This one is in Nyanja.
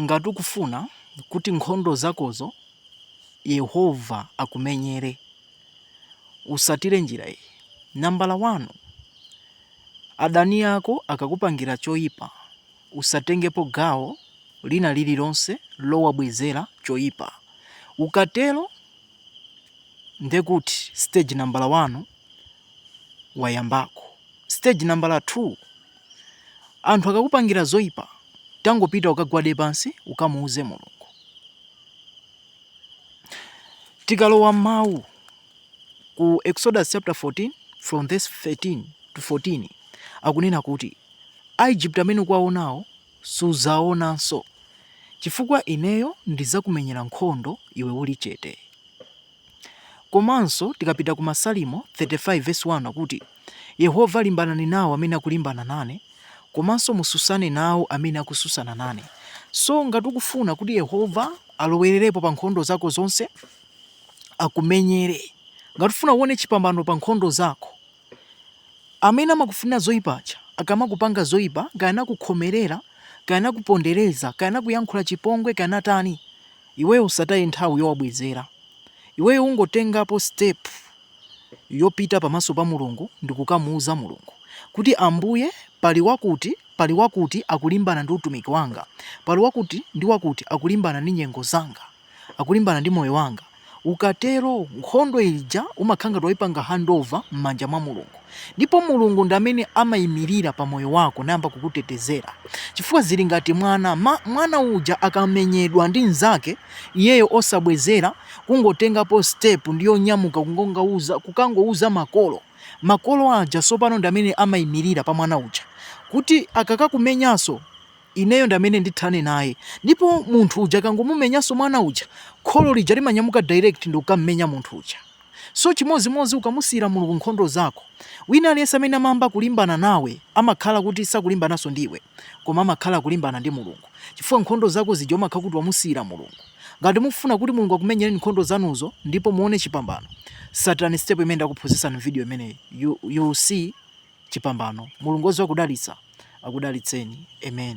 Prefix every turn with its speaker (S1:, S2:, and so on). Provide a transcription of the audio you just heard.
S1: Ngati ukufuna kuti nkhondo zakozo Yehova akumenyere, utsatire njira iyi. Nambala wani, adani ako akakupangira choipa, usatengepo gawo lina lililonse lowabwezera choipa. Ukatero, ndiye kuti siteji nambala wani wayambako. Siteji nambala 2. Anthu akakupangira zoipa, tangopita ukagwade pansi ukamuuze Mulungu. Tikalowa m'mawu ku Exodus chapter 14 from verse 13 to 14 akunena kuti Aigupto amene ukuwaonawo suzawaonanso chifukwa ineyo ndidzakumenyera nkhondo iwe uli chete. Komanso tikapita ku Masalimo 35 vesi 1 akuti, Yehova limbanani nawo amene akulimbana nane, komanso mususane nawo amene akususana nane. So ngati ukufuna kuti Yehova alowererepo pa nkhondo zako zonse, akumenyere. Ngati ufuna uone chipambano pa nkhondo zako. Amene amakufunira zoipa aja akamakupanga zoipa, kaya anakukhomerera, kaya anakupondereza, kaya anakuyankhula chipongwe, kaya anatani, iweyo usataye nthawi yowabwezera. Iweyo ungotengapo step yopita pamaso pa Mulungu ndi kukamuuza Mulungu kuti, Ambuye, pali wakuti, pali wakuti akulimbana ndi utumiki wanga. Pali wakuti ndi wakuti akulimbana ndi nyengo zanga. akulimbana ndi moyo wanga. Ukatero, nkhondo ija umakhala ngati waipanga handover m'manja mwa Mulungu. Ndipo Mulungu ndi amene amaimirira pa moyo wako nayamba kukutetezera. Chifukwa zili ngati mwana, ma, mwana uja akamenyedwa ndi mnzake, iyeyo osabwezera, kungotengapo step ndi yonyamuka kungouza, kukangouza makolo. Makolo aja tsopano ndi amene amaimirira pa mwana uja kuti akakakumenyanso, Ineyo ndi amene ndithane naye. Ndipo munthu uja akangomumenyanso mwana uja, kholo lija limanyamuka direct ndikukammenya munthu uja. So chimodzimodzi ukamusiyira Mulungu nkhondo zako, wina aliyense amene amayamba kulimbana nawe amakhala kuti sakulimbananso ndi iwe koma amakhala akulimbana ndi Mulungu chifukwa nkhondo zako zija umakhala kuti wamusiyira Mulungu. Ngati mukufuna kuti Mulungu akumenyereni nkhondo zanuzo ndipo muone chipambano, tsatirani step imene ndakuphunzitsani m'video imeneyi, you, you will see. chipambano mulungu wodziwa kudalitsa akudalitseni amen.